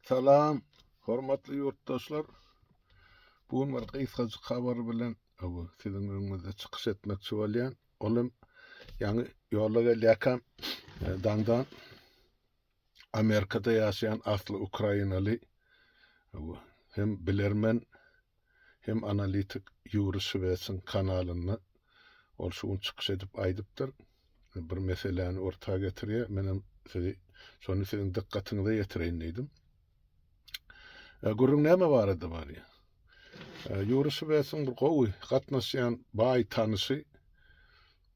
Salam, hormatly ýurtdaşlar! Bu gün bir gysgajyk habar bilen bu siziň öňüňizde çykyş etmekçi bolýan. Ol hem ýaňy ýola gelýärkäm e, daňdan Amerikada ýaşaýan asly ukrainaly hem bilermen hem analitik Ýuri Şwesiň kanalynda ol şu gün çykyş edip aýdypdyr. Bir meseläni orta getirýär. Menem sizi şony siziň dykgatyňyza ýetireýin diýdim. E, gürrüň näme barada barýar? E, Ýuri Şwesiň bir gowy gatnaşýan baý tanysy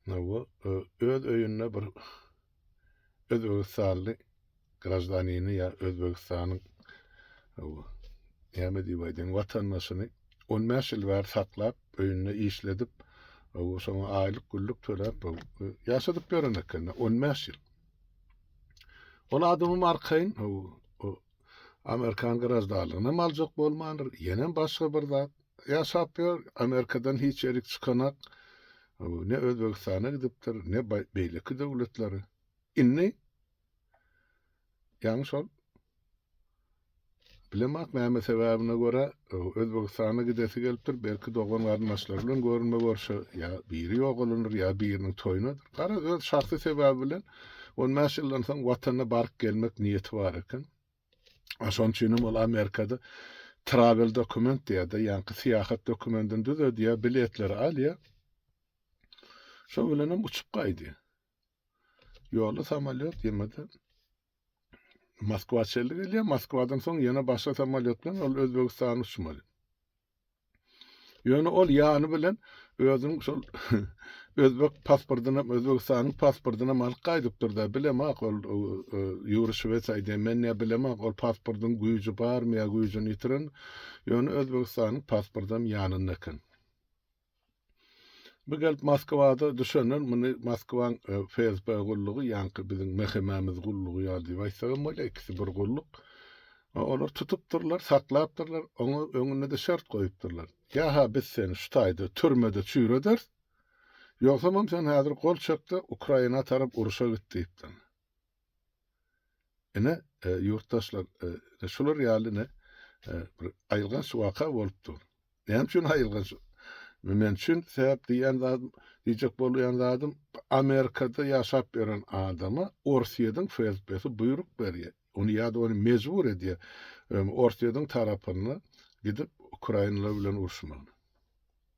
e, öz öýünde bir Özbegistanly graždanini ýa Özbegistanyň näme diýip aýdaýyn watandaşyny on bäş ýyl bäri saklap, öýünde işledip, şoňa aýlyk güllük töläp ýaşadyp ýören eken on bäş ýyl. Ol adamym arkaýyn Amerikan graždanlygyny hem aljak bolmandyr, ýenem başga bir zat. Ýaşap ýör, Amerikadan hiç ýerik çykanak. Ne Özbegistana gidipdir, ne beýleki döwletlere. Indi ýaňy şol bilemak näme sebäbine görä Özbegistana gidesi gelipdir, belki dogan-garyndaşlary bilen görünme görşe, ýa biri ýogalandyr, ýa biriniň toýunadyr. Garaz, öz şahsy sebäbi bilen on bäş ýyldan soň watanyna baryp gelmek niýeti bar eken. A şonuň üçin hem ol Amerikada travel dokument diýýär-de, ýaňky syýahat dokumentini düzedýär, biletleri alýar. Şo bilen hem uçup gaýdýar. Ýolda samolyot ýemede Moskwa çelli gelýär. Moskwadan soň ýene başga samolyot bilen ol Özbegistana uçmaly. Ýöne ol ýany bilen özüniň şol özbek pasportyny, Özbegistanyň pasportyny hem alyp gaýdypdyr da, bilemok ol Ýuri Şwes aýdýar, men näme bilemok, ol pasportyň güýji barmy ýa güýjüni ýitiren. Ýöne Özbegistanyň pasporty hem ýanynda eken. Bu gelip Moskwada düşenden muny Moskwaň e, FSB gullugy ýaňky biziň MHM-miz gullugy ýaly diýip aýtsagam bolýar, ikisi bir gulluk. E, olar tutupdyrlar, saklapdyrlar, oňa öňünde-de şert goýupdyrlar. Ýa-ha biz seni şu taýda türmede çüýrederis, ýogsamam sen häzir gol çekde Ukraina tarap uruşa git diýipdir. Ine, e, ýurtdaşlar, e, ine şular ýaly ine e, bir aýylganç waka bolup dur. Näme üçin aýylganç? Men üçin sebäp diýen zadym, diýjek bolýan zadym, Amerikada ýaşap ýören adama Orsýetiň FSB-si buýruk berýär. Ony ýa-da ony mejbur edýär. Orsýetiň tarapyna gidip Ukraina bilen uruşmagyna.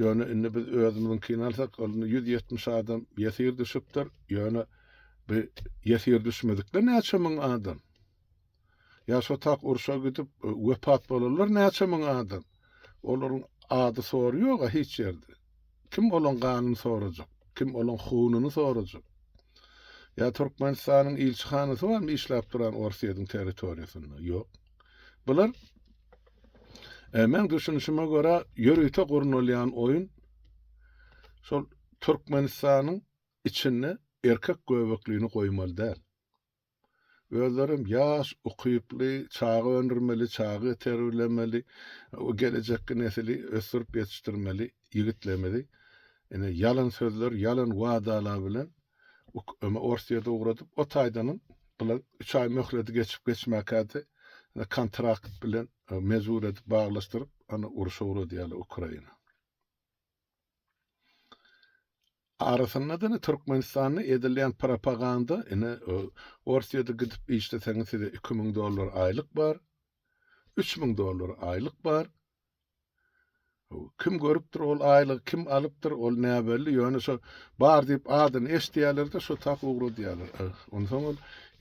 Ýöne indi biz özümiziňkini alsak, ol indi ýüz ýetmiş adam ýesir düşüpdir. Ýöne bu ýesir düşmedikler näçe müň adam? Ýa şo tak urşa gidip e, wepat bolanlar näçe müň adam? Olaryň ady sory ýog-a hiç ýerde. Kim olaň ganyny sorajak? Kim olaň hununy sorajak? Ýa Türkmenistanyň ilçihanasy barmy işläp duran Orsýetiň territoriýasynda? Ýok. Bular e, men düşünişime görä ýörite gurnalýan oýun şol Türkmenistanyň içinde erkek göbeklini goýmaly däl. Özlerim ýaş, ukyply, çaga öndürmeli, çaga terbilemeli, o gelejekki nesili ösdürip ýetişdirmeli ýigitlerimizi ine ýalan sözler, ýalan wadalar bilen Öme Orsýede ugradym. O taýdanam bula üç aý möhledi geçip-geçmäkädi kontrakt bilen mejbur edip baglaşdyryp, ony urşa ugradýarlar Ukraina. Arasynda-da ine Türkmenistanda edilýän propaganda, ine Orsýede gidip işleseňiz size iki müň dollar aýlyk bar, üç müň dollar aýlyk bar, Kim görüpdir ol aýlygy, kim alypdyr, ol näbelli. Ýöne şo bar diýip adyny eşidýärler-de, şo tak ugradýarlar. Onsoň ol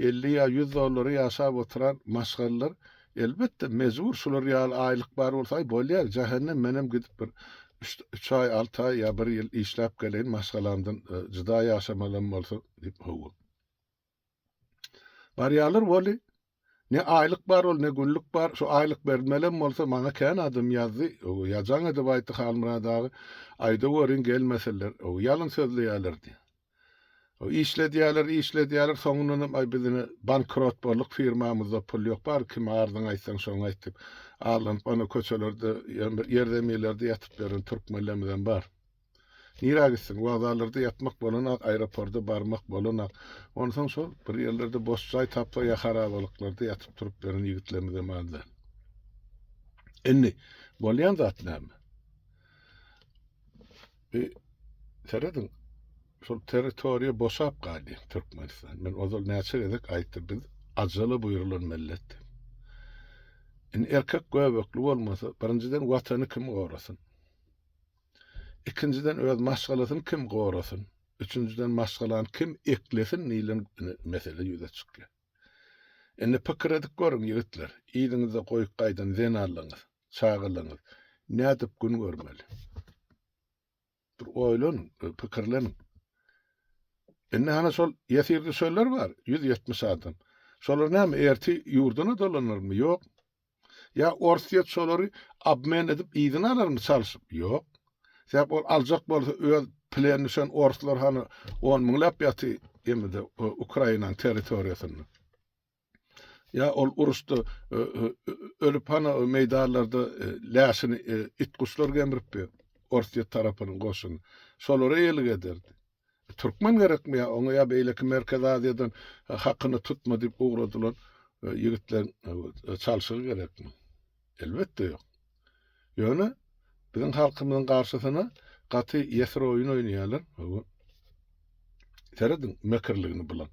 50 ýa 100 dollara ýaşap oturan maşgallar, elbetde, mejbur şular ýaly aýlyk bar bolsa, aý bolýar, jähennem, menem gidip bir üç aý, alty aý ýa bir ýyl işläp geleýin, maşgalamdan jyda ýaşamalam bolsa diýip, hawa. Barýarlar wally. Ne aýlyk bar ol, ne günlük bar. Şu aýlyk berilmelem bolsa, maňa kän adam ýazdy. Öw, ýazaň edip aýtdy Halmyrat aga. Aýdaweriň, gelmeseler, öw, ýalyn sözleýärler diýdi. Öw, işledýärler, işledýärler, soňundanam, aý, biz ine, bankrot bolduk, firmamyzda pul ýok, bar, kime arzyňy aýtsaň, şoňa aýt diýip, arlanyp, ana, köçelerde, ýer zeminlerde ýatyp ýören türkmenlerimizem bar. Nirä gitsin? Wokzallarda ýatmak bolanak, aeroporda barmak bolanak. Onsoň şol bir ýerlerde boş jaý tapsa ýa harabalyklarda ýatyp-turup beren ýigitlerimizem azdan. Indi bolýan zat näme? E, serediň, şol territoriýa boşap galýar Türkmenistan. Men ozal näçe gezek aýtdym, biz ajala buýrulan millet. Indi erkek göbekli bolmasa, birinjiden watany kim gorasyn? Ikinjiden öz maşgalasyny kim gorasyn? Üçünjiden maşgalany kim eklesin diýlen mesele ýüze çykýar. Indi pikir edip görüň ýigitler, yzyňyzda goýup gaýdan zenanlaňyz, çagalaňyz nädip gün görmeli? Bir oýlanyň, bir pikirleniň. Indi hana şol ýesir düşenler bar, 170 adam. Şolar näme erti ýurduna dolanarmy? Ýok. Ýa Orsýet şolary obmen edip yzyna alarmy çalşyp? Ýok. Sebäp ol aljak bolsa öz pleni düşen orslar hany on müňläp ýaty emide Ukrainaň territoriýasynda. Ýa ol uruşda ölüp hany meýdanlarda läşini it-guşlar gemripdi Orsýet tarapynyň goşuny. Şolara eýelik ederdi. Türkmen gerekmi ýa oňa ýa beýleki Merkezi Aziýadan hakyny tutma diýip ugradylan ýigitleriň çalşygy gerekmi? Elbetde ýok. Ýöne biziň halkymyzyň garşysyna gaty ýesir oýun oýnaýarlar. Serediň mekirligini bulaň.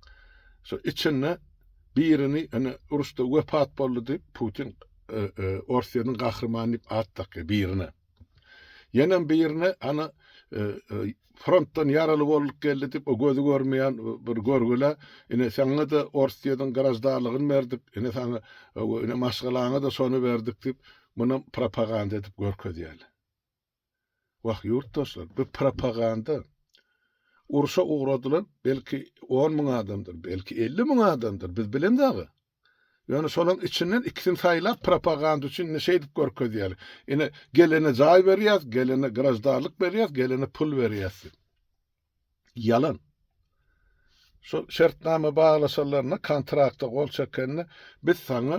Şu içinde birini ene uruşda wepat boldy diýip Putin Orsyýanyň gahrymany diýip at dakýar birine. Ýenem birine ana frontdan ýaraly bolduk geldi dip o gözi görmeýän bir görgüle ine saňa-da Orsýetiň graždanlygyny berdik, ine saňa ine maşgalaňa-da şony berdik dip muny propaganda edip görkezýärler. Wah ýurtdaşlar bu propaganda. Urşa ugradylan belki on müň adamdyr, belki elli müň adamdyr biz bilemis aga. Ýöne şolaň içinden ikisini saýlap propaganda üçin indi şeýdip görkezýäli. Ine gelene jaý berýäs, gelene graždarlyk berýäs, gelene pul berýäs diýip. Ýalan. Şol şertnama baglaşanlarynda kontrakta gol çekende biz saňa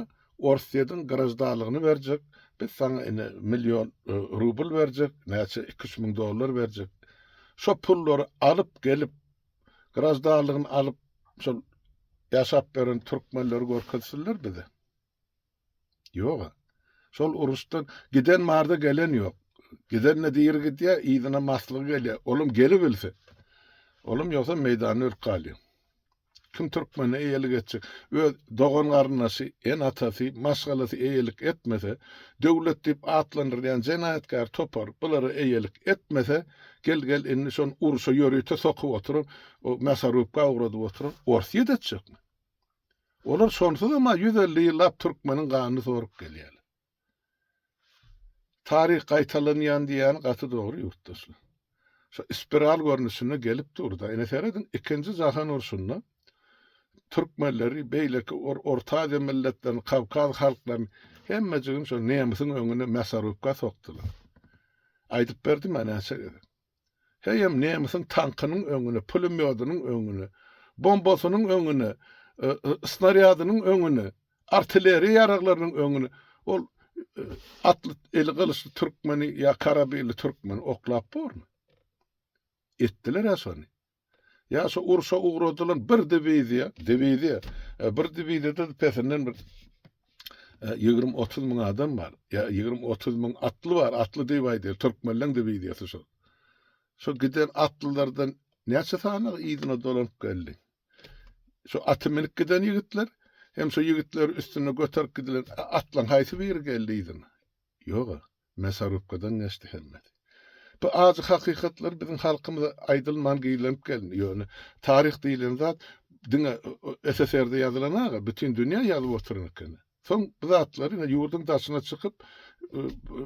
Orsýediň graždarlygyny berjek, biz saňa ine million e, rubl berjek, näçe iki-üç müň dollar berjek. Şo pullary alyp gelip graždanlygyny alyp şol ýaşap beren türkmenleri görkezsinler bize. Ýoga. Şol uruşdan giden barda gelen ýok. Giden ne diri gidýä, ýygyna maslygy gelýä. Olam geli bilse. Olam ýogsa meýdanda ölüp galýa. Kim türkmene eýelik etjek? Öz dogan garyndaşy, en atasy, maşgalasy eýelik etmese, döwlet diýip atlandyrýan jenaýatkär topar bulara eýelik etmese, Gel, gel, indi şon urşa ýörite sokup oturan, o mýasorubka ugradyp oturan ors ýedetjekmi? Olar şonsuzam-a ýüz elli ýyllap türkmeniň ganyny sorup gelýärler. Taryh gaýtalanýan diýýäni gaty dogry ýurtdaşlar. Şo spiral görnüşinde gelip dur-da. Ine serediň, ikinji jahan urşunda Türkmenleri, beýleki Orta Aziýa milletlerini, Kawkaz halklaryny hemmejigini şol nemisiň öňüne mässarubka sokdular. Aýdyp berdim ýa näçe gezek. Heýem nemisiň tankynyň öňüne, pulemýodynyň öňüne, bombasynyň öňüne, snarýadynyň öňüne, artilleriýa ýaraglarynyň öňüne ol atly, eli gylyçly türkmeni ýa karabinli türkmeni oklap bormy? Etdiler-ä şony. Ýa şu urşa ugradylan bir diwiziýa, diwiziýa, e, bir diwiziýada pesinden bir e, ýigrimi otuz müň adam bar. Ýa ýigrimi otuz müň atly bar, atly diýip aýdýar, türkmenleň diwiziýasy şu. Şu giden atlylardan näçe sany yzyna dolanyp geldi? Şu aty minip giden ýigitler, hem şu ýigitler üstünde göterip gidilen atlaň haýsy biri geldi yzyna? Ýog-a. Mesarubkadan geçdi hemmesi. Bu ajy hakykatlar biziň halkymyza aýdylman gizlenip gelindi. Ýöne taryh diýlen zat diňe SSR-de ýazylan-a, bütin dünýä ýazyp oturan eken. Soň bu zatlary ine ýurduň daşyna çykyp,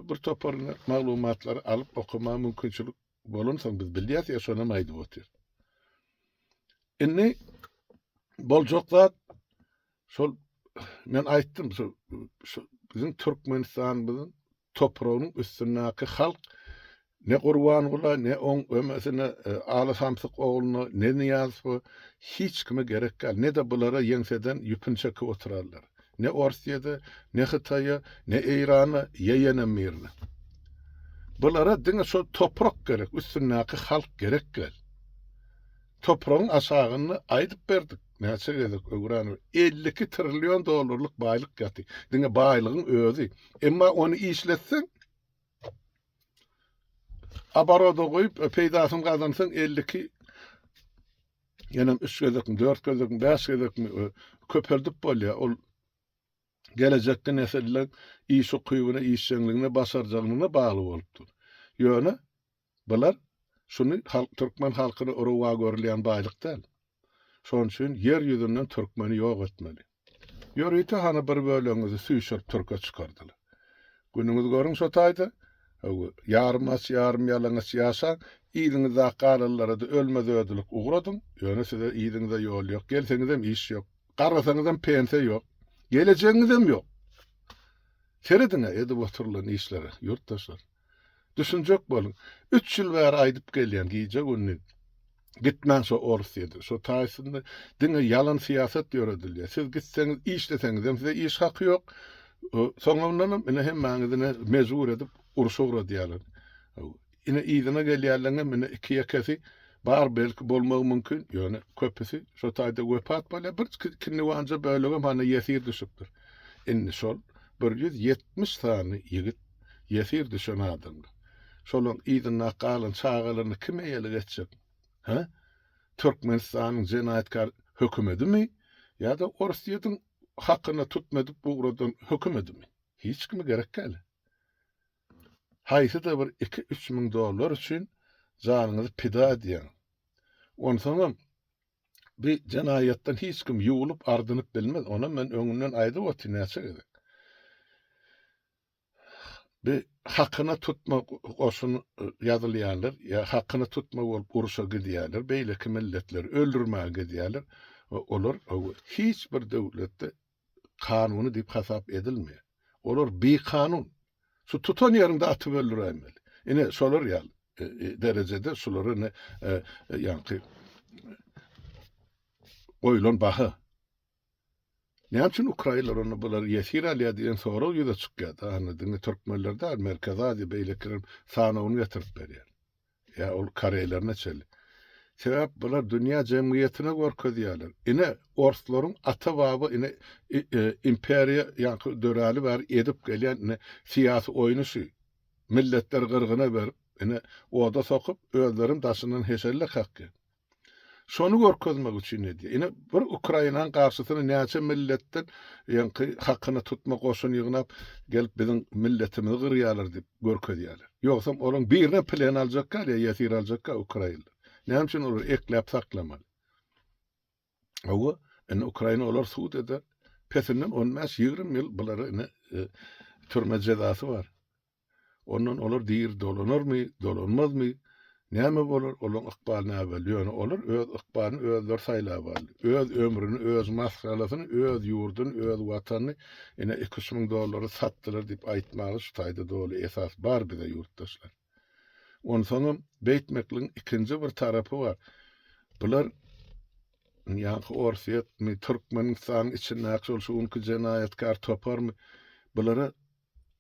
bir topar ine maglumatlary alyp okamaga mümkinçilik bolansoň biz bilýäs ýa şonam aýdyp otyrys. Indi boljak zat Şol men aýtdym, şu şu biziň Türkmenistanymyzyň topragynyň üstündäki halk ne Gurbangula, ne oň ömesine e, Aly Samsyk ogluna, ne Nyýazowa hiç kime gerek däl, ne-de bulara ýeňseden ýüpüni çekip oturarlar. Ne Orsýede, ne Hytaýa, ne Eýrana, ýeýenem birine. Bulara diňe şol toprak gerek, üstündäki halk gerek däl. Topragyň aşagynda aýdyp berdik. Näçe gezek öwränim, elli iki trillion dollarlyk baýlyk ýaty. Diňe baýlygyň özi. Emma ony işletseň, abaroda goýup, e, peýdasyny gazansaň, elli iki ýenem üç gezekmi, dört gezekmi, bäş gezekmi e, köpeldip bolýar. Ol gelejekki nesiller iş ukybyna, işjeňligine, başarjaňlygyna bagly bolupdyr. Ýöne Bular şuny halk türkmen halkyny rowa görülýän baýlyk däl. Şonuň üçin ýer ýüzünden türkmeni ýok etmeli. Ýörite hany bir bölegiňizi süýşürip türke çykardylar. Günüňizi görüň şo taýda, hawa, ýarym aç, ýarym ýalaňaç ýaşaň, yzyňyzdaky galylara-da ölmez-ödülik ugradyň, ýöne size yzyňyza ýol ýok, gelseňizem iş ýok, garasaňyzam pensiýa ýok, gelejegiňizem ýok. Serediň-ä edip oturylan işlere, ýurtdaşlar. Düşünjek boluň. Üç ýyl bäri aýdyp gelýän gije-gündiz gitmäň şo Orsýede, şo taýsyny diňe ýalan syýasat ýöredilýär. Siz gitseňiz işleseňizem size iş haky ýok. Soňundanam ine hemmäňizi ine mejbur edip urşa ugradýarlar. Ine yzyna gelýänleriňem ine iki ýekesi bar belki bolmagy mümkin, ýöne köpüsi şo taýda wepat bolýar. Bir ikindi wanja bölegem hany ýesir düşüpdir. Indi şol bir ýüz ýetmiş sany ýigit Ýesir düşen adamlar. Şolaň yzynda galan çagalaryny kim eýelik etjek? Hä? Türkmenistanyň jenaýatkar hökümedimi ýa-da Orsýetiň hakyna tutma edip ugradan hökümedimi? Hiç kimi gerek däl. Haýsy-da bir iki-üç müň dollar üçin janyňyzy pida edýäň. Onsoňam bi jenaýatdan hiç kim ýuwlup-ardynyp bilmez. Onam men öňünden aýdyp otyryn näçe gezek. Bi hakyna tutma goşun ýazylýarlar, ýa hakyna tutma bolup uruşa gidýärler, beýleki milletleri öldürmäge gidýärler we olar hiç bir döwletde kanuny diýip hasap edilmeýär. Olar bikanun. Şu tutan ýeriňde atyp öldüräýmeli. Ine şolar ýaly derejede şulara ine ýaňky goýlan baha. Näme üçin ukrainler onda bular ýesir alýar diýen sorag ýüze çykýar da hany diňe türkmenler däl Merkezi Aziýa beýlekiler sanawyny getirip berýär. Ýa ol koreýler neçeli. Sebäp bular dünýä jemgyýetine görkezýärler. Ine orslaryň ata baba ine e, e, imperiýa ýaňky döräli bäri edip gelýän ine syýasy oýny şu. Milletler gyrgyna berip, ine oda sokup, özlerim daşyndan heşelle kakýar. Şony görkezmek üçin edýär. Ine, bir Ukrainanyň garşysyna näçe milletden ýaňky hakyna tutma goşun ýygnap, gelip biziň milletimizi gyrýarlar diýip görkezýärler. Ýogsam olaryň birinem plen aljakka ýa ýesir aljakka ukrainler. Näme üçin olary ekläp saklamaly? Hawa, indi Ukraina olary sud eder. Pesinden on bäş, ýigrimi ýyl bulary indi türme jezasy bar. Ondan olar diri dolanarmy, dolanmazmy, näme bolar, olaryň ykbaly näbelli, ýöne olar öz ykbalyny özleri saýlap aldy. Öz ömrüni, öz maşgalasyny, öz ýurduny, öz Watanyny ine iki-üç müň dollara satdylar diýip aýtmaga şu taýda doly esas bar bize ýurtdaşlar. Onsoňam beýtmekligiň ikinji bir tarapy bar. Bular ýaňky Orsýetmi, Türkmenistanyň içindäki şol şu günki jenaýatkär toparmy, bulara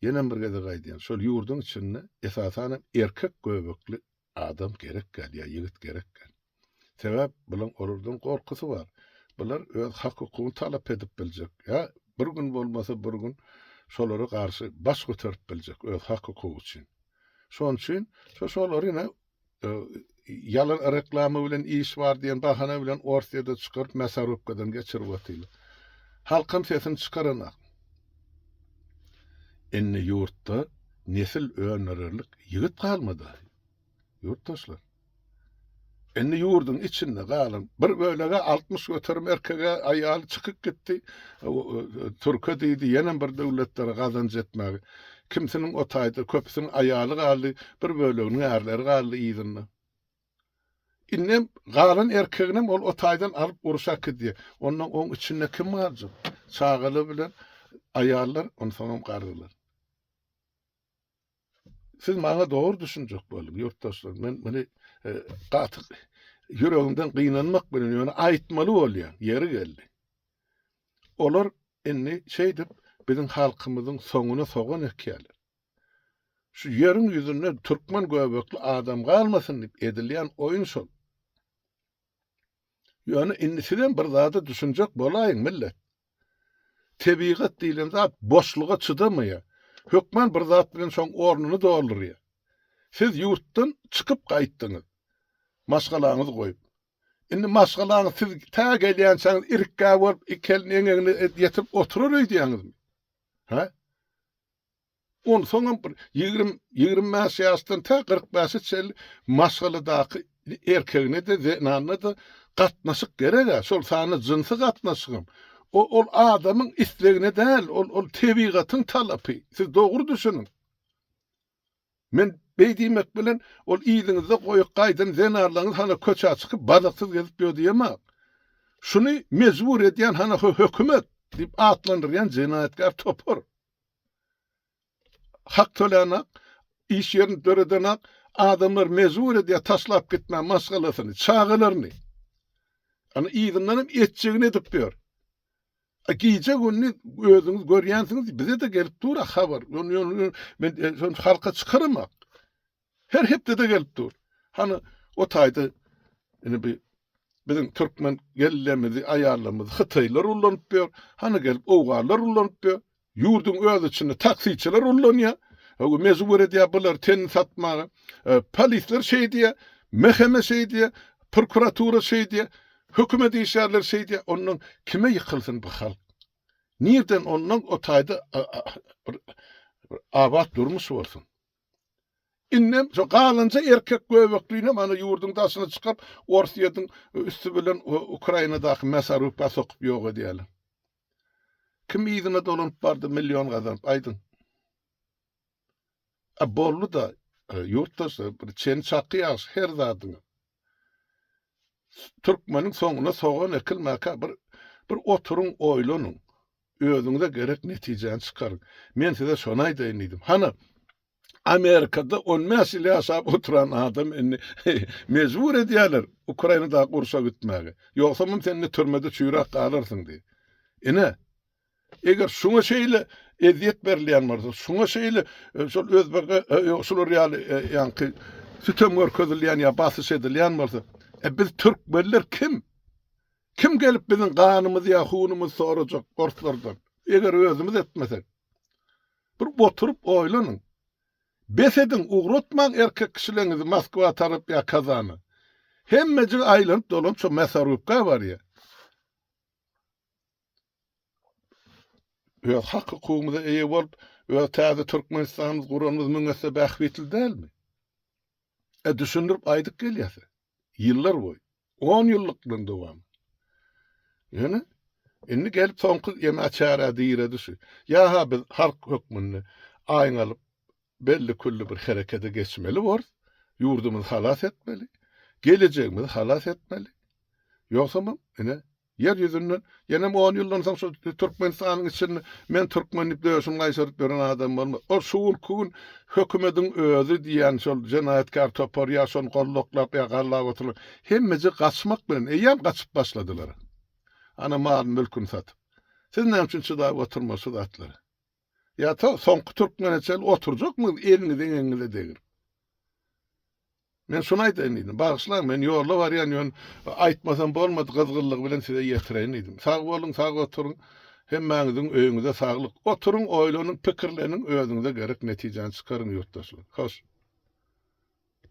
Ýenem bir gezek aýdýan, şol ýurduň içinde esasanam erkek göbekli adam gerek gel ýa ýigit gerek gel. Sebäp bulan olardan gorkusy bar. Bular öz hak hukugyny talap edip biljek ýa bir gün bolmasa bir gün şolara garşy baş göterip biljek öz hak hukugy üçin. Şon üçin şo şolary ine Ýalan reklama bilen iş bar diýen bahana bilen Orsiýada çykaryp mässarowkadan geçirip atylar. Halkam sesini çykaranak. Indi ýurtda nesil öndürerlik ýigit galmady. Ýurtdaşlar. Indi ýurduň içinde galan bir bölege 60 göterim erkege aýaly çykyp gitdi. Türke diýdi, ýenem bir döwletlere gazanç etmäge. Kimsiniň o taýda, köpüsiniň aýaly galdy, bir böleginiň ärleri galdy yzynda. Indem galan erkeginem ol o taýdan alyp uruş akydýa. Ondan oň içinde kim galjak? Çagalar bilen aýallar onsoňam garrylar. Siz maňa dogry düşünjek boluň, ýurtdaşlar, men muny gaty ýüregimden gynanmak bilen, ýöne aýtmaly bolýar, ýeri geldi. Olar Indi şeýdip biziň halkymyzyň soňuna sogan ekýärler. Şu ýeriň ýüzünde türkmen göbekli adam galmasyn diýip edilýän oýun şol. Ýöne indi sizem bir zada düşünjek bolaýyň millet. Tebigat diýlen zat boşluga çydamaýar. Hökman bir zat bilen şoň ornuny doldurýar. Siz ýurtdan çykyp gaýtdyňyz. Maşgalaňyzy goýup. Indi maşgalaňyz siz tä gelýänçäňiz irikgä bolup, iki elini eňegine ýetirip oturar öýdýäňizmi? Hä? Onsoňam bir ýigrimi, ýigrimi bäş ýaşdan tä kyrk bäşe çenli maşgaladaky erkegine-de, zenanyna-da gatnaşyk gerek-ä, şol sanda jynsy gatnaşygam. O, ol adamyň islegine däl, ol, ol tebigatyň talapy. Siz dogry düşüniň. Men beý diýmek bilen, ol yzyňyzda goýup gaýdan zenarlaryňyz hana köçä çykyp badaksyz gezip ýör diýemok. Şuny mejbur edýän hana hö hökümet! Diýip atlandyrýan jenaýatkär topar. Hak tölänok, iş ýerini döredenok, adamlary mejbur edýär taşlap gitmä maşgalasyny, çagalaryny. Ana yzyndanam etjegini edip ýör. A gije-gündiz özüňiz görýänsiňiz, bize-de gelip dur-a habar. Men şonça halka çykaram-ak. Her hepde-de gelip dur. Hany, o taýda indi bi biziň türkmen kellemizi, aýallarymyzy hytaýlar ullanyp ýör. Hany gelip owganlar ullanyp ýör. Ýurduň öz içinde taksiçiler ullanýar. Öw mejbur edýär bulary tenini satmaga. Polisler şeý diýýär, mhkma şeý diýýär, prokuratura şeý diýýär, hökümet işgärleri şeý diýýär. Ondan kime ýykylsyn bu halk? Nirden ondan o taýda bir abat durmuş bolsun? Indem şo galanja erkek göbeklinem ana ýurduň daşyna çykyp, Orsýetiň üsti bilen Ukrainadaky Mäsaruka sokup ýok edýärler. Kim yzyna dolanyp bardy million gazanyp aýdyň. A boldy da e, ýurtdaşlar bir çen çaky ýagşy her zadyň. Türkmeniň soňuna sogan ekilmäkä bir bir oturyň oýlanyň. Özüňize gerek netijäni çykaryň. Men size şony aýdaýyn diýdim. Hana Amerikada on bäş ýyl ýaşap oturan adam indi mejbur edýärler Ukrainadaky urşa gitmäge. Ýogsamam sen indi türmede çüýräp galarsyň diýip. Ine, eger şuňa şeýle ezýet berilýän bolsa, şuňa şeýle e, şol özbege e, ýok şular ýaly e, ýaňky sütem görkezilýän ýa basyş edilýän bolsa, e, biz türkmenler kim? Kim gelip biziň ganymyzy ýa hunumyzy sorajak orslardan? Eger özümiz etmesek. Bir oturyp oýlanyň. Bes ediň, ugratmaň erkek kişileňizi Moskwa tarap ýa Kazana. Hemmejigi aýlanyp-dolanyp şo Mäsorybka barýar. Öz hak-hukugymyza eýe bolup, öz täze Türkmenistanymyzy guranymyz müň esse bähbitli dälmi? E, düşündirip aýdyp gelýäs-ä. Ýyllar boýy, on ýyllykdan dowam. Ýöne indi gelip soňky ýene çärä diredi şu. Ýa-ha biz halk hökmünde aýň alyp, belli-külli bir herekede geçmeli bors, ýurdumyzy halas etmeli, gelejegimizi halas etmeli. Ýogsamam ine Ýer ýüzünde ýenem on ýyldan soň şu Türkmenistanyň içinde men türkmen diýip döşüni gaýşaryp ýören adam bolmaz. Ol şu günki gün hökümediň özi diýýän şol jenaýatkär topar ýa şony goldaklap ýa gallap oturan hemmeje gaçmak bilen eýýäm gaçyp başladylar. Ana mal-mülküni satyp. Siz näme üçin çydap oturmaz şu zatlara? Ýa to soňky türkmene çenli oturjakmyz egiňiz-eňegiňize degilip? Men şuny aýdaýyn diýdim. Bagyşlaň, men ýolda barýan, ýöne aýtmasam bolmady, gyzgynlygy bilen size ýetireýin diýdim. Sag boluň, sag oturyň. Hemmäňiziň öýüňize saglyk. Oturyň, oýlanyň, pikirleniň, özüňize gerek netijäni çykaryň, ýurtdaşlar. Hoş.